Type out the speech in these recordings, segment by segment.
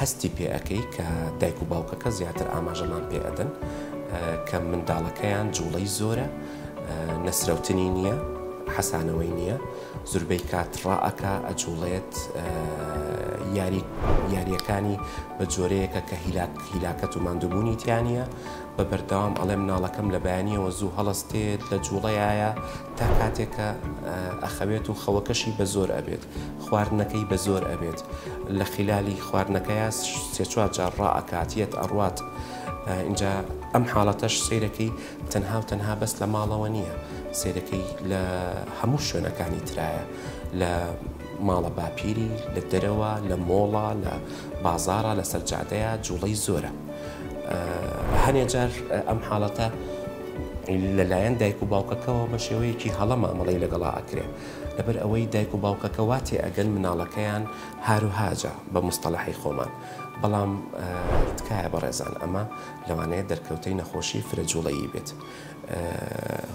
هەستی پێ ئەکەی کە دایک و باوکەکە زیاتر ئاماژەمان پێ ئەدەن کە منداڵەکەیان جوڵەی زۆرە نەسرەوتنی نییە حەسانەوەی نییە زوربەی کات ڕائەکا ئەجوڵێت یاری یاریەکانی بە جۆرەیەکە کە هیلاک هیلاکەت و ماندووبوونی تیانە بە بەردەوام ئەڵێم ناڵەکەم لە بەیانیەوە زوو هەڵستێت لە جوڵەیە تا کاتێک کە ئەخەوێت و خەوەکەشی بە زۆر ئەبێت خواردنەکەی بە زۆر ئەبێت لە خیلالی خواردنەکەیا سێ چوار جار ڕائەکات یەت ئەڕوات ئینجا ئەم حاڵەتەش سیرەکەی تەنها و تەنها بەس لە ماڵەوە نییە سیرەکەی لە هەموو شوێنەکانی ترایە لە ماڵە باپیری لە دەرەوە لە مۆڵە لە بازارە لە سەرجادەیە جوڵەی زۆرە هەنێ جار ئەم حاڵەتە لەلایەن دایک و باوکەکەوە بە شێوەیەکی هەڵە مامەڵەی لەگەڵا ئەکرێ لەبەر ئەوەی دایک و باوکەکە وا تێ ئەگەن مناڵەکەیان هاروهاجە بە مستەڵەحی خۆمان بەڵام تکایە بەڕێزان ئەمە لەوانەیە دەرکەوتەی نەخۆشی فرە جوڵەیی بێت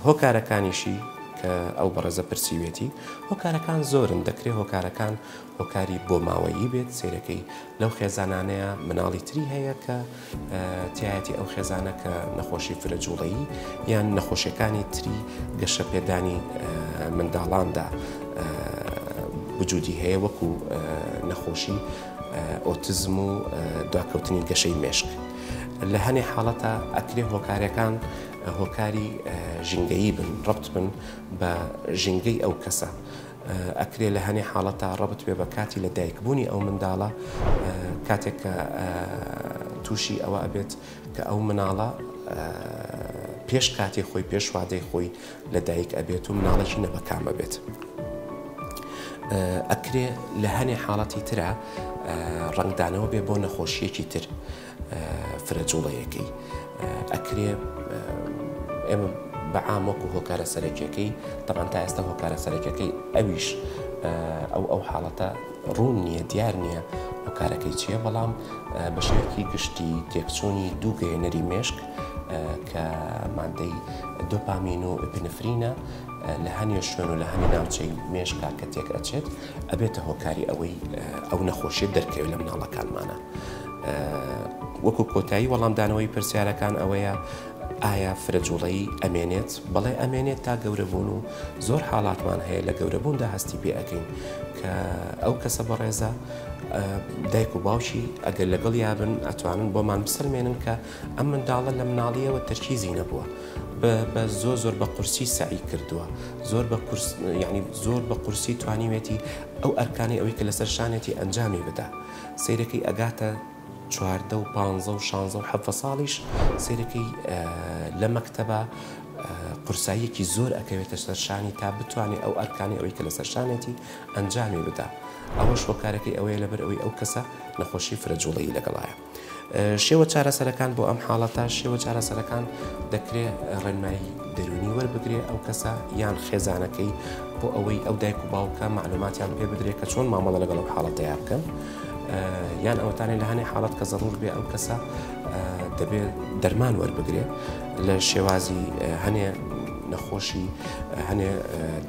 هۆکارەکانیشی کە ئەو بەڕێزە پرسیوێتی هۆکارەکان زۆرن دەکرێت هۆکارەکان هۆکاری بۆ ماوەیی بێت سیرەکەی لەو خێزانانەیە مناڵی تری هەیە کە تیایەتی ئەو خێزانە کە نەخۆشی فرە جوڵەیی یان نەخۆشیەکانی تری گەشە پێدانی منداڵاندا بجودی هەیە وەکو نەخۆشی ئۆتزم و دواکەوتنی گەشەی مێشک لە هەنێ حاڵەتە ئەکرێ هۆکارەکان هۆکاری ژینگەیی بن ڕبت بن بە ژینگەی ئەو کەسە ئەکرێ لە هەنێ حاڵەتا ڕەبت بێ بە کاتی لە دایک بوونی ئەو منداڵە کاتێک کە تووشی ئەوە ئەبێت کە ئەو مناڵە پێش کاتی خۆی پێش وادەی خۆی لە دایک ئەبێت و مناڵێکی نەبەکامە بێت. ئەکرێ لە هەنێ حاڵەتی ترا ڕنگدانەوە بێ بۆ نەخۆشیەکی تر. فرە جوڵەیەکەی ئەکرێ ئێمە بە عام وەکو هۆکارە سەرەکیەکەی تەمان تا ئێستا هۆکارە سەرەکەکەی ئەویش ئەو ئەو حاڵەتە ڕوون نییە دیار نییە هۆکارەکەی چییە بەڵام بە شێوەیەکی گشتی تێکچوونی دوو گەێنەری مێشک کە مادەی دۆپامین و پنفرینە لە هەنێ شوێن و لە هەنێ ناوچەی مێشکا کە تێک ئەچێت ئەبێتە هۆکاری ئەوەی ئەو نەخۆشیە دەرکەوێت لە مناڵەکانمانە. وەکو کۆتایی وەڵامدانەوەی پرسیارەکان ئەوەیە ئایا فرە جوڵەی ئەمێنێت بەڵێ ئەمێنێت تا گەورەبوون و زۆر حاڵاتمان هەیە لە گەورەبووندا هەستی پێ ئەەکەین کە ئەو کەسە بەڕێزە دایک و باوشی ئەگەر لەگەڵ یابن ئەتوانن بۆمان بسەلمێنن کە ئەم منداڵە لە مناڵیەوە تەرکیزی نەبووە بە زۆ زۆر بە قورسی سعی کردووە زۆر بە ینی زۆر بە قورسی توانیوێتی ئەو ئەرکانی ئەوەی کە لەسەر شانێتی ئەنجامی بدا. سەیرەکەی ئەگاتە چواردە و پانزە و شانزە و حەڤە ساڵیش سەیرەکەی لە مەکتەبە قورساییەکی زۆر ئەکەوێتە سەر شانی تا بتوانێت ئەو ئەرکانی ئەوەی کە لەسەر شانێتی ئەنجامی بدا ئەوەش هۆکارەکەی ئەوەیە لەبەر ئەوەی ئەو کەسە نەخۆشی فرەجوڵەیی لەگەڵایە شێوە چارەسەرەکان بۆ ئەم حاڵەتە شێوە چارەسەرەکان دەکرێ ڕێنمایی دەرونی وەربگرێ ئەو کەسە یان خێزانەکەی بۆ ئەوەی ئەو دایک و باوکە معلوماتیان پێ بدرێت کە چۆن مامەڵە لەگەڵ ئەو حاڵەتەیە بکەن یان ئەوتانێ لە هەنێ حاڵەت کە زەڕور بێ ئەو کەسە دەبێت دەرمان وەربگرێت لە شێوازی هەنێ نەخۆشی هەنێ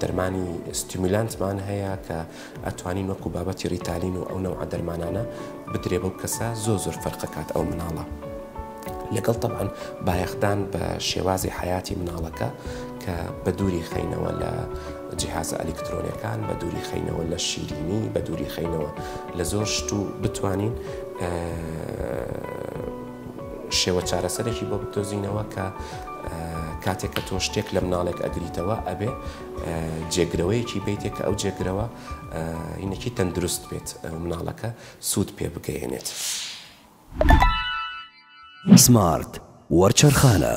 دەرمانی ستیمیلانتمان هەیە کە ئەتوانین وەکو بابەتی ریتالین و ئەو نەوعە دەرمانانە بدرێ بەو کەسە زۆر زۆر فەرق ئەکات ئەو مناڵە لەگەڵ تەبعەن بایەخدان بە شێوازی حیاتی مناڵەکە کە بە دووری خەینەوە لە جیهازە ئەلیکترۆنەکان بە دووری خەینەوە لە شیرینی بە دووری خەینەوە لە زۆر شت و بتوانین شێوە چارەسەرێکی بۆ بدۆزینەوە کە کاتێک کە تۆ شتێک لە مناڵێک ئەگریتەوە ئەبێ جێگرەوەیەکی بەیتێ کە ئەو جێگرەوە ینەکی تەندروست بێت مناڵەکە سوود پێ بگەیەنێت. سمارت وەرچەرخانە.